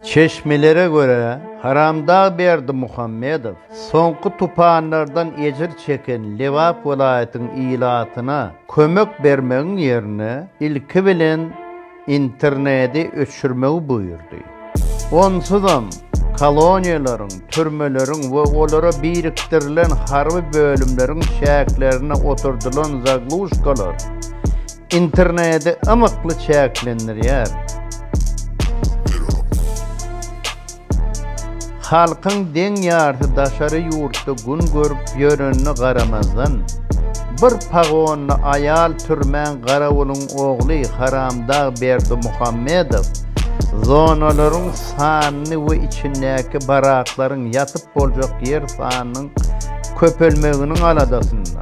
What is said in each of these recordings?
Çeşmelere görä, Haramdag Berdimuhamedow soňky tupanlardan ejir çeken Lebap welaýatyň ilatyna kömek bermegiň ýerine ilki bilen internedi öçürmegi buýurdy. Onsuzam koloniýalaryň, türmeleriň we olara birikdirilen harby bölümleriň çäklerine oturdylan zagluşkalar, Internedi ymykly çäklendirýär. Halkyň deň ýarsy daşary ýurtda gün görüp ýörenine garamazdan, bir pagonly aýal türmän garawulyň ogly haramdag Berdimuhammedow zonalaryň sanyny we içindäki baraklaryň ýatyp boljak ýer sanynyň köpelmeginiň aladasynda.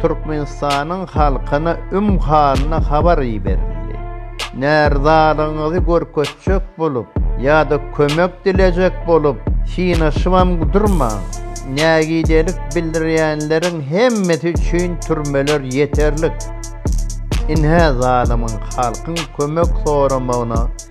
Türkmenistanyň halkyna üm halyna habar iberildi. Närizalygyňyzy görkezjek bolup ýa-da kömek dilejek bolup synaşybam durmaň. Nägidelik bildirýänleriň hemmesi üçin türmeler ýeterlik. Ynha zalymyň halkyň kömek soramagyna